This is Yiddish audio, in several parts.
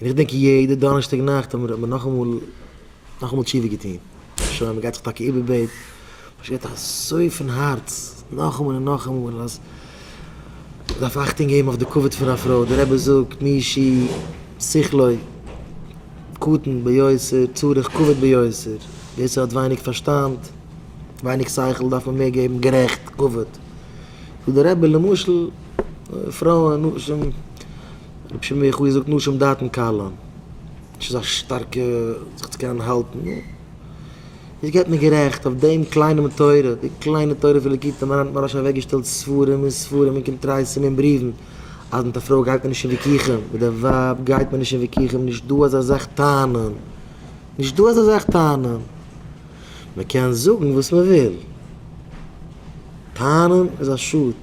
און איך דענק יעדע דאנערשטאג נאכט האט מען נאכאמאל נאכאמאל תשובה געטון, שוין מען גייט זיך טאקע איבערבעט, מען שרייט אזוי פון הארץ נאכאמאל און נאכאמאל אז מען דארף אכטונג געבן אויף די כבוד פון א פרוי, די רבי זאגט מי אישי שכלו קטן ביותר צריך כבוד ביותר, ווער ס'האט ווייניג פארשטאנד, ווייניג שכל דארף מען מער געבן גערעכט כבוד, זאגט דער רבי למשל פרויען נשים. רבי שמעון בן יוחאי זאגט נשים דעתן קלון, נישט אזא שטארקע זיך צו קענען האלטן, נו, איז געבט מיר גערעכט, אויף דעם קליינעם תורה, די קליינע תורה פון ליקוטי מוהר ן האט מוהרא ש אוועקגעשטעלט ספרים און ספרים און קונטרסים און בריוון, אז מיט א פרוי גייט מען נישט אין וויכוחים, מיט דער ווייב גייט מען נישט אין וויכוחים, נישט דא אזא זאך טענה'ן, נישט דא אזא זאך טענה'ן, מען קען זאגן וואס מען וויל, טענה'ן איז א שאד.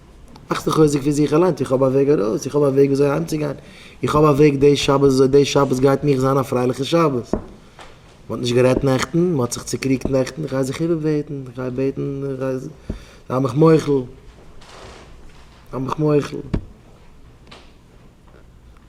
מאך זיך חוזק פון זיך אליינס, איך האב א וועג ארויס, איך האב א וועג וויאזוי אהיימצוגיין, איך האב א וועג די שבת וויאזוי די שבת גייט מיך זיין א פרייליכע שבת. מ'האט נישט גערעדט נעכטן, מ'האט זיך צוקריגט נעכטן, כ'גיי זיך איבער בעטן, כ'גיי בעטן, זיי מיך מוחל, זיי מיך מוחל.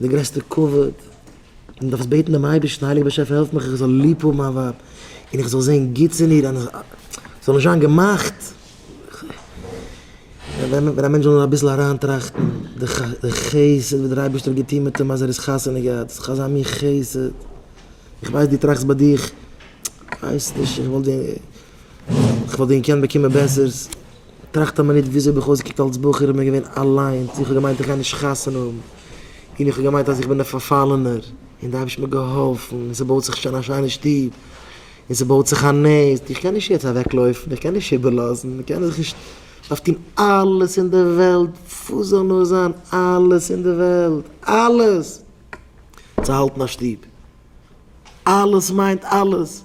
די גרעסטע כבוד, און דארפסט בעטן דעם אייבערשטן, הייליגער באשעפער העלף מיך איך זאל ליב האבן מיין ווייב, און איך זאל זען גוטס אין איר, און איך זאל נישט זיין געמאכט, ווען א מענטש זאל נאר אביסל אריינטראכטן די חסד וואס דער אייבערשטער האט געטון מיט אים אז ער איז חתונה געהאט, ס'איז דאך אזא מין חסד, איך ווייס דו טראכסט ביי דיך, איך ווייס נישט, איך וואלט דיר. איך וואלט ווען געקענט באקומען בעסערס. טראכט א מינוט וויאזוי האב איך אויסגעקוקט אלס בחור איך בין געווען אליינס איך האב געמיינט איך גיי נישט חתונה האבן און איך האב געמיינט אז איך בין דער פארפאלענער און די אייבערשטן האט מיר געהאלפן און ס'בויט זיך שוין א שיינע שטוב און ס'בויט זיך א נעסט איך קען נישט יעצט אוועקלויפן איך קען נישט איבערלאזן איך קען זיך נישט דארף טון אלעס אין די וועלט וואס זאל נאר זיין אלעס אין די וועלט אלעס צו האלטן א שטוב אלעס מיינט אלעס.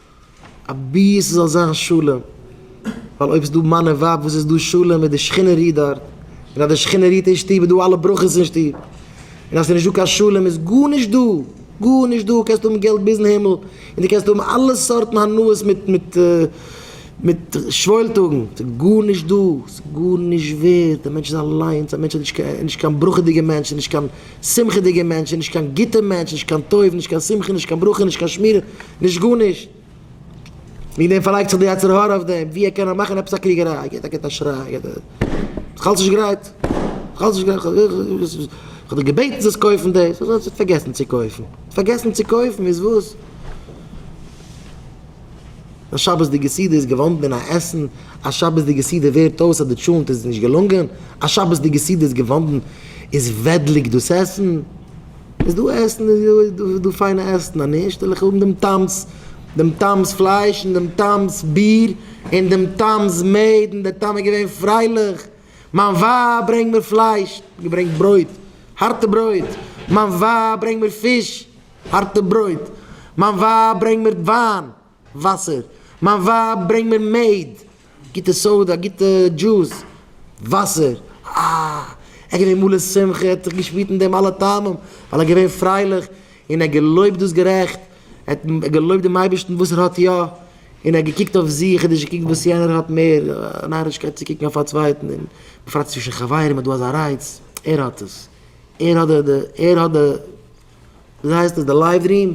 אבי ס'זאל זיין שלום, ווייל אויב ס'דא מאן און ווייב וואס איז דא שלום איז די שכינה רוהט דארט, און אז די שכינה רוהט אין שטוב איז דא אלע ברכות אין שטוב, און אז ס'איז נישט דא קיין שלום איז גארנישט דא, גארנישט דא, קענסט האבן געלט ביזן הימל, און דו קענסט האבן אלע סארטן הנאות מיט מיט מיט שוואוילטאגן, ס'איז גארנישט דא, ס'איז גארנישט ווערד, דער מענטש איז אליינס, א מענטש איז נישט קיין נישט קיין ברכה דיגע מענטש, נישט קיין. שמחה'דיגע מענטש איז נישט קיין גוטע מענטש, נישט קיין טוב, נישט קיין שמחה, נישט קיין ברכה, נישט קיין שמירה, נישט גארנישט. וועגן דעם פארלייגט זיך דער יצר הרע אויף דעם, ווי ער קען נאר מאכן עפעס א קריגעריי, געט ער געט א שריי, געט ער איך האלט נישט גרייט, איך האלט נישט גרייט, איך האב דיר געבעטן זאלסט קויפן דאס, וואס האסטו פארגעסן צו קויפן? פארגעסן צו קויפן איז וואס? א שבת'דיגע סעודה איז געוואנדן אין א עסן, א שבת'דיגע סעודה ווערט אויס אז די טשולענט איז נישט געלונגען, א שבת'דיגע סעודה איז געוואנדן איז וועדליג דאס עסן. איז דא עסן איז דא פיינע עסן אז נישט וועל איך האבן דעם טעם'ס דעם טעם'ס פלייש און דעם טעם'ס ביר און דעם טעם'ס מעד און דער טעם איז געווען פרייליך, מיין ווייב ברענג מיר פלייש, געברענגט ברויט, הארטע ברויט, מיין ווייב ברענג מיר פיש, הארטע ברויט, מיין ווייב ברענג מיר וויין, וואסער, מיין ווייב ברענג מיר מעד, גוטע סאודא, גוטע דזשוס, וואסער, אה, ער געווען מלא שמחה, ער האט זיך געשפירט אין דעם אלע טעמים, ווייל ער געווען פרייליך, און ער געלויבט דאס גערעכט, ער האט געלויבט דעם אייבערשטן וואס ער האט יא, און ער האט געקוקט אויף זיך, ער האט נישט געקוקט וואס יענער האט מער, א נארישקייט צו קוקן אויף א צווייטן, און בפרט צווישן חברים איז דא אזא רייץ, ער האט עס, ער האט די, ער האט די. וויאזוי הייסט עס די לייוו רום?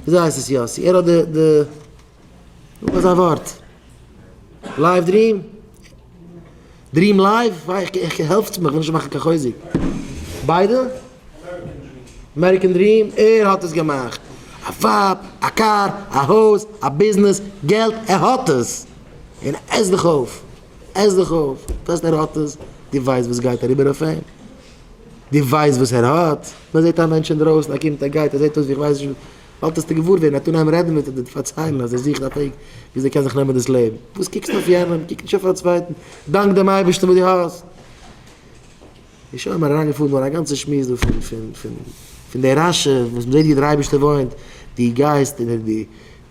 וויאזוי הייסט עס יאסי? ער האט די די זאג מיר זיין ווארט. לייוו דרים? דרים לייוו? איך העלפטס מיך, איך וויל נישט מאכן קיין חוזק. ביידע? אמעריקען דרים? ער האט עס געמאכט. א ווייב, א קאר, א הויז, א ביזנעס, געלט, ער האט עס! און עס דיך אויף! עס דיך אויף! וועסט ער האט עס, דו ווייסט וואס גייט אריבער אויף אים? דו ווייסט וואס ער האט? מען זעט א מענטש אינדרויסן, ער קומט ער גייט, ער זעט אויס ווי איך ווייס נישט וואס, באלד וועסטו געוואר ווערן, ער טאר נעבן רעדן מיט אדער פארציילן אז ער זוכט א וועג וויאזוי ער קען זיך נעמען דאס לעבן. וואס קוקסטו אויף יענעם? קוק נישט אויף א צווייטן, דאנק דעם אייבערשטן וואס דו האסט. איז שוין מיר אריינגעפאלן דא אין א גאנצע שמועס דא פון פון פון פון די רשע וואס מען זעט ווי דער אייבערשטער וואוינט, דו גייסט און דו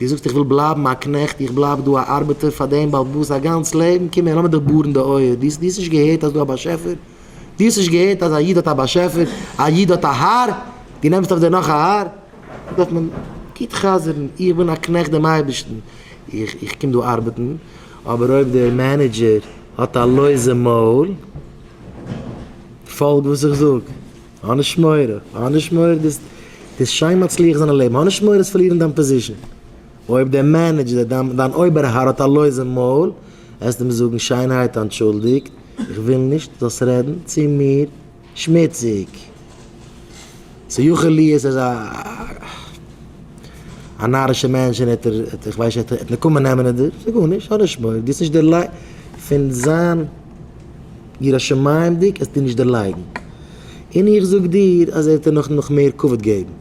דו זאגסט איך וויל בלייבן א קנעכט, איך בלייב דא א ארבעטער פאר דעם בעל בית א גאנץ לעבן, קום הער לאמיר דיך בארן די אויער, דו האסט נישט געהערט אז ס'איז דא א באשעפער? דו האסט נישט געהערט אז א איד האט א באשעפער, א איד האט א האר, דו נעמסט אויף דיר נאך א האר? דא דארף מען גוט חזר'ן, איך בין א קנעכט דעם אייבערשטן, איך קום דא ארבעטן, אבער אויב דער מענעדזשער האט א לויזע מויל, פאלג וואס איך זאג, האב נישט מורא, האב נישט מורא, דו וועסט שיין מצליח זיין אין לעבן, האב נישט מורא וועסט פארלירן דיין פאזישן, אויב דער מענעדזשער, דיין אויבער האר האט א לויזע מויל, העסטו אים זאגן שיינערהייט אנטשולדיגט, איך וויל נישט זאלסט רעדן צו מיר שמוציג. ס'יכול להיות ער איז א א נארישער מענטש און ער האט ער איך ווייס נישט ער האט נקמה נעמען אין דיר, ס'גארנישט, האב נישט מורא, דו האסט נישט דערלייגט פון זיין יראת שמים'דיג האסטו נישט דערלייגן. און איך זאג דיר אז ער וועט דיר נאך נאך מער כבוד געבן.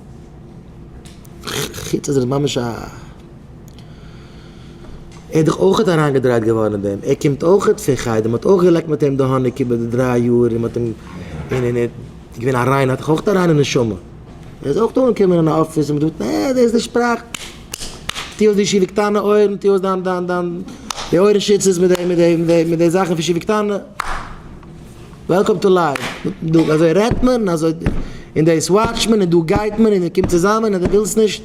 חוץ אז ער איז ממש א. ער איז דאך אויכעט אריינגעדרייט געווארן אין דעם, ער קומט אויכעט פון חדר, מ'האט אויך געלעקט מיט אים די האניג איבער די דריי יאר און מ'האט אים, און און ער איז געווען א ריינער, האט דאך אויכעט א ריינע נשמה. ער איז אויכעט אנגעקומען אין אפיס און מ'האט געזאגט, נע, דאס איז די שפראך, טו אויס די שיבי קטנה אויערן, טו אויס דיין דיין דיין די אויערן שיצעס מיט די מיט די מיט די זאכן פון שיבי קטנה. וועלקאם טו לייוו, גוטן טאג, אזוי רעדט מען, און אזוי, און דאס וואטשט מען, און דא גייט מען, און מען קומט צוזאמען, און דו ווילסט נישט,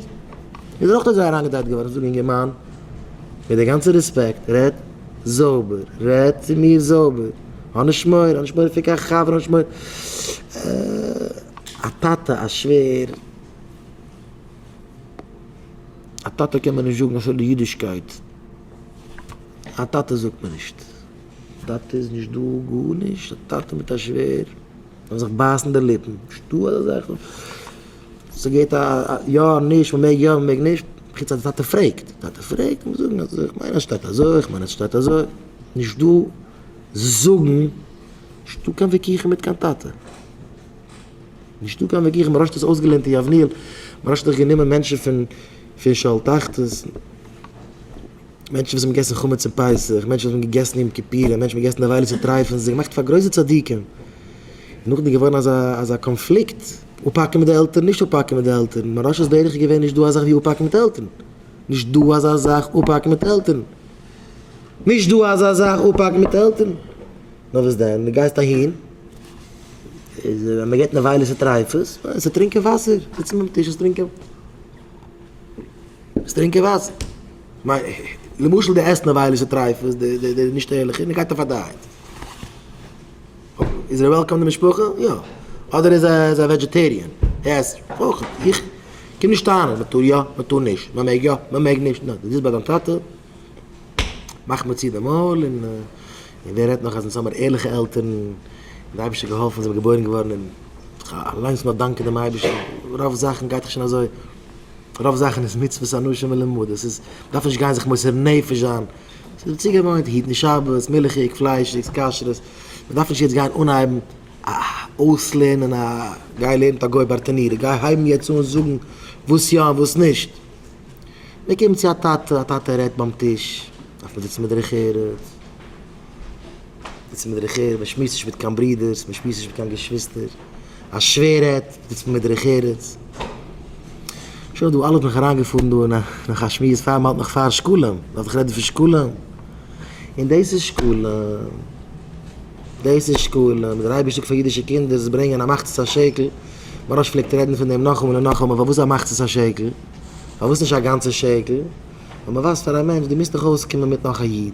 איז ער אויך אזוי אריינגעדרייט געווארן, זאג אינגערמאן, מיט די גאנצע רעספעקט, רעד זויבער, רעד צו מיר זויבער, האב נישט מורא, האב נישט מורא פון קיין חבר, האב נישט מורא, א טאטע, א שווער, א טאטע קען מען נישט זאגן אסאך אידישקייט, א טאטע זאגט מען נישט. טאטע איז נישט דא גארנישט, א טאטע מיט א שווער וועלן זיך בייסן די ליפן, נישט דא אזא זאך, ס'געט א יא און נישט, מ'מעג יא מ'מעג נישט, חוץ אז די טאטע פרעגט, די טאטע פרעגט מ'מוז זאגן אז איך מיין אז שטייט אזוי, איך מיין אז שטייט אזוי, נישט דא זאגן, נישט דא קיין וויכוחים מיט קיין טאטע, נישט דא קיין וויכוחים, מ'רשט דאס אויסגעלערנט אין יבנאל, מ'רשט דאך גענומען מענטשן פון פון שאול תחתית. מענטשן וואס האבן געגעסן חמץ אין פסח, מענטשן וואס האבן געגעסן יום כיפורים, מענטשן וואס האבן געגעסן די עבירות צוטרייפן זיך, געמאכט פאר גרויסע צדיקים, איז נאכדעם געווארן אזא אזא קאנפליקט, אפהאקן מיט די עלטערן, נישט אפהאקן מיט די עלטערן, מרשה'ס דרך איז געווען נישט דא אזאך ווי אפהאקן מיט עלטערן, נישט דא אזא זאך אפהאקן מיט עלטערן, נישט דא אזא זאך אפהאקן מיט עלטערן, נאר וואס דען, דו גייסט אהין, איז מען געבט נבילות וטריפות, זיצן ביים טיש און טרינקען וואסער, זיצן ביים טיש און טרינקען. זאלסט טרינקען וואסער. למשל די עסט נארוואילישע טרייפות, די נישט ערליכע, און ער גייט אויף א דייעט. איז ער וועלקאם אין די משפחה? יא. אדער איז ער א וועדזשעטעריען, ער עסט אויך. איך קום נישט טענה'ן מען טאר יא, מען טאר נישט, מען מעג יא, מען מעג נישט. נו, דו זיצט ביי דיין טאטע, מאך מיר צו די מויל, און ווער רעדט נאך אז אונז האמיר ערליכע עלטערן, און די אייבישטער האט געהאלפן אונז זעמיר געבוירן געווארן, און אליינס נאר דאנקען דעם אייבישטער, רוב זאכן גייט דאך שוין אזוי. רוב זאכן איז מצוות אנשים מלומדות, איז דארף נישט גיין זיך מוסר נפש זיין, ס'איז צוגעוואוינט היטן שבת, מילכיג, פליישיג, כשר'ס, מ'דארף נישט יעצט גיין אנהייבן אויסלערנען א, גיי לערן מיט א גוי ברטנורא, גיי הייבן יעצט אן זאגן וואס יא און וואס נישט, מ'קומט צו א טאטע, א טאטע רעדט ביים טיש, דארף מען זיצן בדרך ארץ. זיצט מען דערעכער, מען שמועסט נישט מיט קיין ברודערס, מען שמועסט נישט מיט קיין געשוויסטער, א שווער רעדט, זיצט מען מיט דערעכערערס. שוין דא, אלעס בין איך אריינגעפארן דא אין נאך א שמועס פאר מען האלט מיך פאר שקלים, דארף איך רעדן פון שקלים? און דאס איז שקלים? דאס איז שקלים? דער אייבערשטער זאגט פאר אידישע קינדער זיי ברענגען א מחצית השקל, מוהראש פלעגט רעדן פון דעם נאכאמאל און נאכאמאל, פארוואס א מחצית השקל? פארוואס נישט א גאנצע שקל? און מען ווייזט פאר א מענטש דו מוזט דאך אויסקומען מיט נאך א איד,